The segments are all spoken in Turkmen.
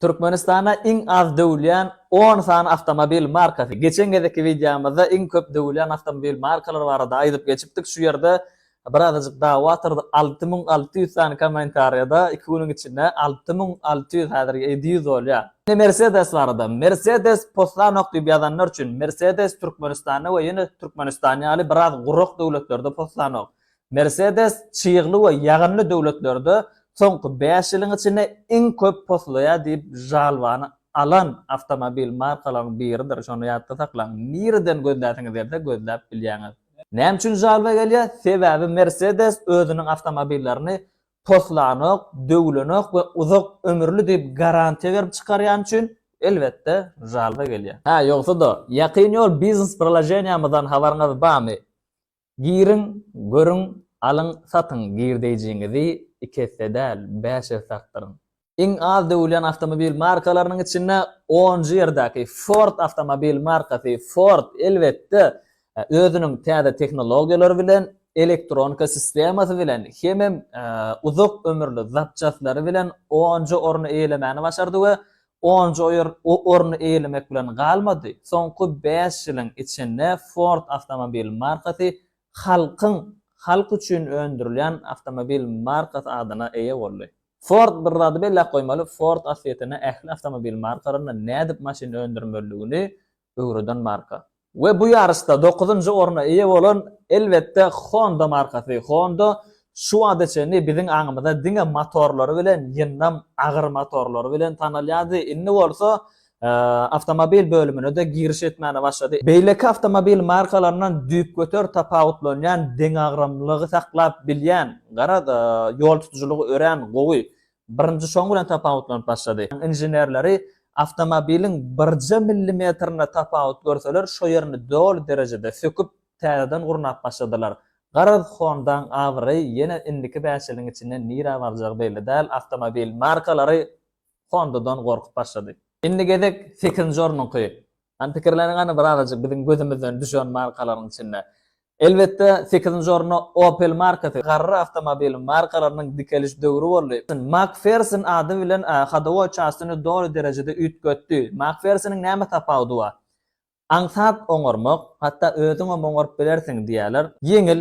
Türkmenistanda iň az döwülýän on sany awtomobil markasy. Geçen gezekki wideomyzda iň köp döwülýän awtomobil markalary barada aýdyp geçipdik. Şu ýerde birazajyk dawa turdy. Alty müň alty ýüz sany kommentariýada iki günüň içinde alty müň alty ýüz häzir ýedi ýüz bolýar. Indi Mercedes barada. Mercedes poslanok diýip ýazanlar üçin, Mercedes Türkmenistanda we ýene Türkmenistan ýaly biraz gurak döwletlerde poslanok. Mercedes çygly we ýagynly döwletlerde soňky bäş ýylyň içinde iň köp poslaýar diýip žalwany alan awtomobil markalaryň biridir, şony ýatda saklaň, nireden gözläsiňiz gelse gözläp bilýäňiz. Näme üçin žalwa gelýär? Sebäbi Mercedes özüniň awtomobillerini poslanok, döwlenok we uzak ömürli diýip garantiýa berip çykarýany üçin, elbetde, žalwa gelýär. Hä, ýogsa-da, ýakyn ýol biznes-priloženiýamyzdan habaryňyz barmy? Giriň, görüň, alyň, satyň, girdejiňizi iki esse däl, bäş esse artdyryň. Iň az döwülýän awtomobil markalarynyň içinde onunjy ýerdäki Ford awtomobil markasy Ford, elbetde, özüniň täze tehnologiýalary bilen, elektronika sistemasy bilen hemem uzak ömürli zapçastlary bilen onunjy orny eýelemäni başardy we Onunjy orny eýelemek bilen galmady, soňky bäş ýylyň içinde Ford awtomobil markasy halkyň halk üçin öndürilýän awtomobil markasy adyna eýe boldy. Ford bir zady belläp goýmaly, Ford asliyetinde ähli awtomobil markalarynda nädip maşyn öndürmelidigini öwreden marka. We bu ýaryşda dokuzynjy orna eýe bolan, elbetde, Honda markasy. Honda şu wagta çenli biziň aňymyza diňe motorlary bilen, ýyndam agyr motorlary bilen tanalýardy. Indi bolsa awtomobil bölümine-de giriş etmäne başlady. Beýleki awtomobil markalaryndan düýpgöter tapawutlanýan deňagramlylygy saklap bilýän, gara, ýoltutujylygy örän gowy, Birinji şoň bilen tapawutlanyp başlady. Inženerleri awtomobiliň birje millimetrinde tapawut görseler, şo ýerini doly derejede söküp, täzeden gurnap başladylar. Garaz, Honda-nyň abraýy ýene indiki bäş ýylyň içinde nirä barjagy belli däl, awtomobil markalary Honda-dan gorkup başlady. Indi gezek sekizinji ornuňky. Hany pikirleniň hany bir azajyk biziň gözümizden düşen markalaryň içinde. Elbetde sekizinji orunda Opel markasy garry awtomobil markalarynyň dikeliş döwri boldy. Makferson ady bilen hadowoý çastyny doly derejede üýtgetdi. Makfersonyň näme tapawudy bar? Aňsat oňarmak, hatda özüňem oňaryp bilersiň diýýärler. Ýeňil,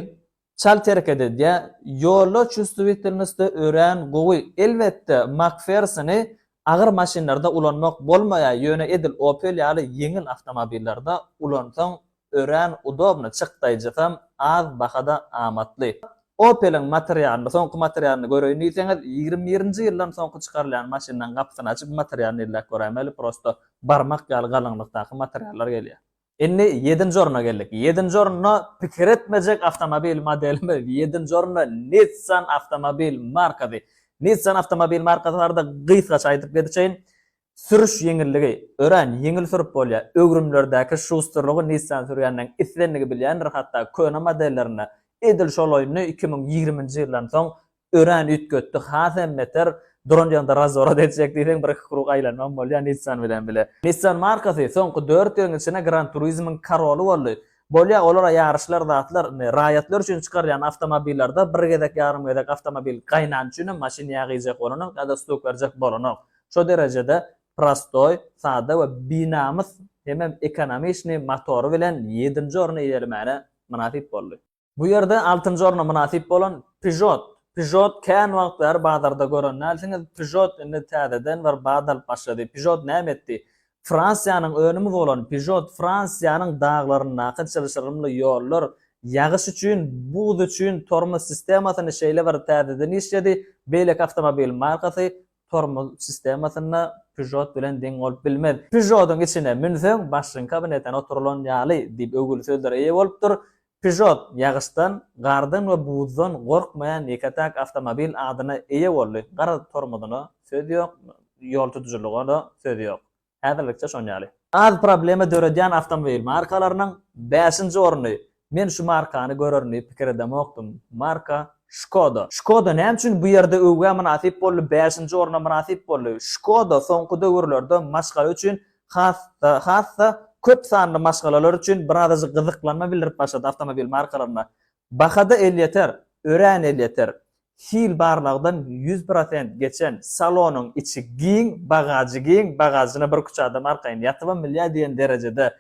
Çalt hereket edýär. Ýollar çustuwitilnostda örän gowy. Elbetde, Makfersoni agyr maşynlarda ulanmak bolmaýar, ýöne edil Opel ýaly ýeňil awtomobillerde ulansaň örän udobny, çykdaýjysam az bahada amatly. Opeliň materialyny, soňky materialyny göreýin diýseňiz, ýigrimi birinji ýyldan soňky çykarylýan maşynlaň gapysyny açyp materialyny elläp göräýmeli, prosto barmak ýaly galyňlykdaky materiallar gelýär. Indi ýedinji orna geldik. Ýedinji orunda pikir etmejek awtomobil modelimiz, ýedinji orunda Nissan awtomobil markasy. Nissan awtomobil markasy barada gysgaça aýdyp geçeýin. Sürüş ýeňilligi, örän ýeňil sürüp bolýar. Öwrümlerdäki şusterlygy Nissan sürýänleň islendigi bilýändir, hatda köne modellerinde edil şol oýny iki müň ýigriminji ýyldan soň Örän üýtgetdi, has hem beter duran ýerinde razworot etjek diýseň bir-iki krug aýlanmam bolýar Nissan bilen bile. Nissan markasy soňky dört ýylyň içinde Gran Turismoň karoly boldy. Bolýar olara ýaryşlar zatlar, indi raýatlar üçin çykarýan awtomobillerde bir gezek ýarym gezek awtomobil gaýnany üçin hem maşyn ýag iýjek bolanok ýa-da stuk berjek bolanok. Şo derejede prostoý, sada we binamys hemem ekonomiçnyý motory bilen ýedinji orny eýelemäne mynasyp boldy. Bu ýerde altynjy orna mynasyp bolan Peugeot. Peugeot kän wagt bäri bazarda gören dälsiňiz. Peugeot indi täzeden bir bat alyp başlady. Peugeot näme etdi? Fransiýanyň önümi bolan Peugeot Fransiýanyň daglaryndaky çylşyrymly ýollar, ýagyş üçin, buz üçin tormoz sistemasyny şeýle bir täzeden işledi, beýleki awtomobil markasy tormoz sistemasynda Peugeot bilen deň bolup bilmez. Peugeot-yň içine münseň, başyňka binetana oturylan ýaly diýip öwgüli sözlere eýe bolupdyr. Peugeot ýagyşdan, gardan we buzdan gorkmaýan ýeke-täk awtomobil adyna eýe boldy. Gara tormozuna söz ýok, ýol tutujylyga-da söz ýok. Häzirlikçe şon ýaly. Az problema döredýän awtomobil markalarynyň bäşinji orny. Men şu markany görerin diýip pikir edemokdym. Marka Skoda. Skoda näme üçin bu ýerde öwgä mynasyp boldy, bäşinji orna mynasyp boldy? Skoda soňky döwürlerde maşgala üçin Has-da köp sanly maşgalalar üçin birazajyk gyzyklanma bildirip başlady awtomobil markalaryna. Baha-da elýeter, örän elýeter. Hil barlagdan ýüz prosent geçen, salonyň içi giň, bagažy giň, bagažyna bir küçä adam arkaýyn ýatybam bilýär diýen derejede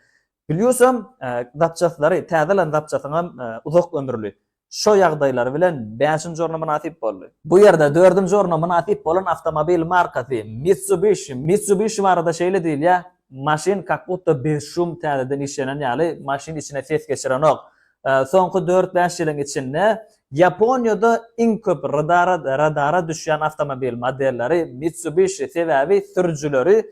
Plýusam, zapçastlary, täze alan zapçasyňam uzak ömürli. Şo ýagdaýlary bilen bäşinji orna mynasyp boldy. Bu ýerde dördünji orna mynasyp bolan awtomobil markasy, Mitsubishi. Mitsubishi barada şeýle diýilýär, Maşyn kakbutda bez şum täzeden işlenen ýaly, maşyn içine ses geçirenok. Soňky dört-bäş ýylyň içinde Ýaponiýada iň köp radara düşýän awtomobil modelleri Mitsubishi, sebäbi sürüjileri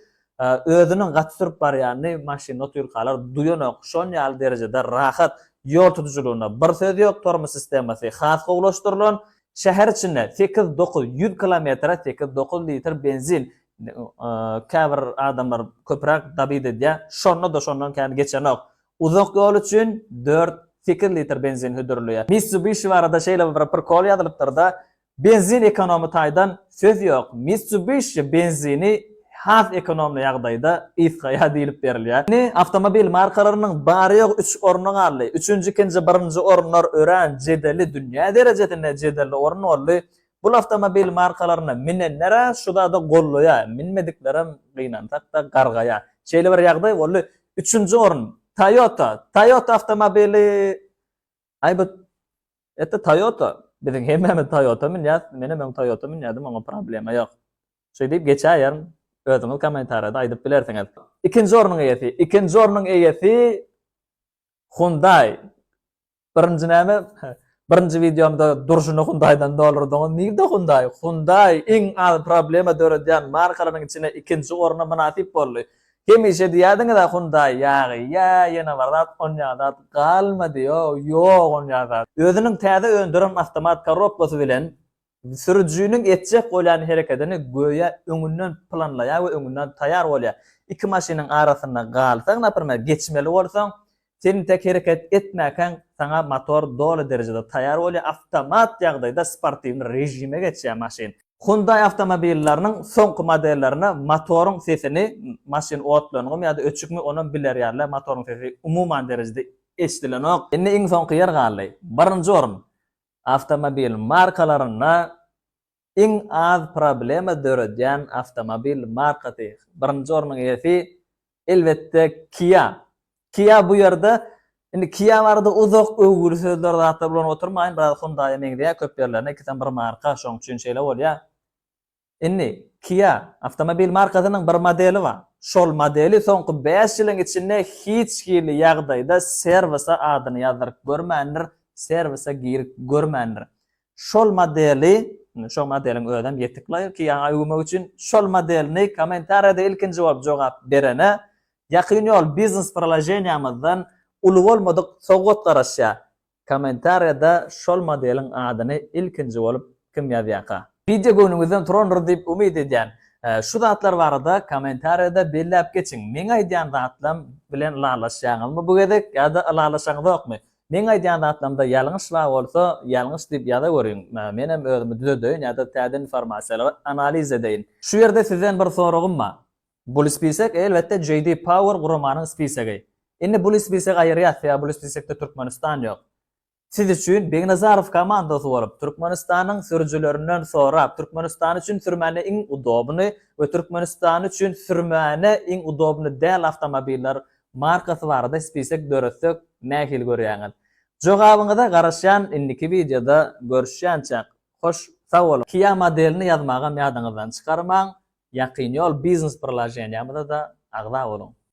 Özüniň gaty sürüp barýanyny maşynda otyrkalar duýanok, şon ýaly derejede rahat. Ýol tutujylygyna bir söz ýok, tormoz sistemasy has gowulaşdyrylan. Şäher içinde sekiz-dokuz ýüz kilometre sekiz-dokuz litr benzin, käbir adamlar köpräk dabit edýär, şonda-da şondan kän geçenok. Uzak ýol üçin dört, sekiz litr benzin hödürleýär. Mitsubishi barada şeýle bir prikol ýazylypdyr-da, Benzin ekonomy taýdan söz ýok. Mitsubishi benzini has ekonomly ýagdaýda gysgaýar diýlip berilýär. Indi awtomobil markalarynyň bary-ýogy üç orny galdy. Üçünji, ikinji, birinji orunlar örän jedelli, dünýä derejesinde jedelli orun boldy. Bu awtomobil markalaryna minenler-ä şu zady gollaýar, minmediklerem gynansak-da gargaýar. Şeýle bir ýagdaý boldy. Üçünji orun, Toyota. Toyota awtomobili Aý bu Ette Toyota biziň hemmämiz Toyota münýäs menem öň Toyota münýädim oňa problema ýok. Şeý diýip geçäýerin özüňiz kommentariýada aýdyp bilersiňiz. Ikinji ornuň eýesi Ikinji ornuň eýesi Hyundai Birinji näme Birinji wideomda durşuny Hyundaidan doldurdyňyz nirde Hyundai Hyundai iň az problema döredýän markalaryň içine ikinji orna mynasyp boldy Hemişe diýýädiňiz-ä Hyundaý ýagy ýa ýene bir zat onýa zat galmady ýow ýok onýa zat. Özüniň täze öndüren awtomat korobkasy bilen sürüjiniň etjek bolýan herekedini göýä öňünden planlaýar we öňünden taýar bolýar. Iki maşynyň arasynda galsaň, naprimer, geçmeli bolsaň, Sen tek hereket etmäkäň saňa motor doly derejede taýýar bolýar, awtomat ýagdaýda sportiwny režime geçýär maşyn. Hyundai awtomobillarynyň soňky modellerinde motoryň sesini maşyn otlanyňmy ýa-da öçükmi onam bilerýärler, motoryň sesi umuman derejede eşidilenok. Indi iň soňky ýer galdy. Birinji orun awtomobil markalarynda iň az problema döredýän awtomobil markasy. Birinji ornuň eýesi, elbetde, Kia. Kia bu ýerde, indi Kia barada uzak öwgüli sözler, zatlar ulanyp oturmaýyn, biraz Hyundai-a meňzeýär köp ýerlerinde, ikisem bir marka, şonuň üçin şeýle bolýar. Indi, Kia, awtomobil markasynyň bir modeli bar. Şol modeli soňky bäş ýylyň içinde hiç hili ýagdaýda serwise adyny ýazdyryp görmändir, serwise girip görmändir. Şol modeli, indi şo modeliň özem ýetik laýyk ýaňa öwmek üçin şol modelini kommentariýada ilkinji bolup jogap berene Ýakyn ýol biznes proloženiýamyzdan uly bolmadyk sowgat garaşýar. Kommentariýada şol modeliň adyny ilkinji bolup kim ýazýarka. Wideo göwnüňizden turandyr diýip umyt edýän. Şu zatlar barada kommentariýada belläp geçiň. Meň aýdýan zatlam bilen ylalaşýaňyzmy bu gezek ýa-da ylalaşaňyzokmy? Meň aýdýan zatlarymda ýalňyş bar bolsa, ýalňyş diýip ýazaweriň, menem özümi düzedeýin ýa-da täze informasiýalary analiz edeýin. Şu ýerde sizden bir soragym bar. Bul spisek, elbetde, JD Power guramanyň spisegi. Indi bul spisegi aýyrýas, sebäbi bul spisekde Türkmenistan ýok. Siz üçin Begnazarow komandasy bolup, Türkmenistanyň sürüjilerinden sorap, Türkmenistan üçin sürmäne iň udobnyý we Türkmenistan üçin sürmäne iň udobnyý däl awtomobiller markasy barada spisek döretsek nähili görýäňiz? Jogabyňyza garaşýan indiki wideoda görüşýänçäk hoş sag boluň. Kia modelini ýazmagam ýadyňyzdan çykarmaň, ýakyn ýol biznes priloženiýamyzada agza boluň.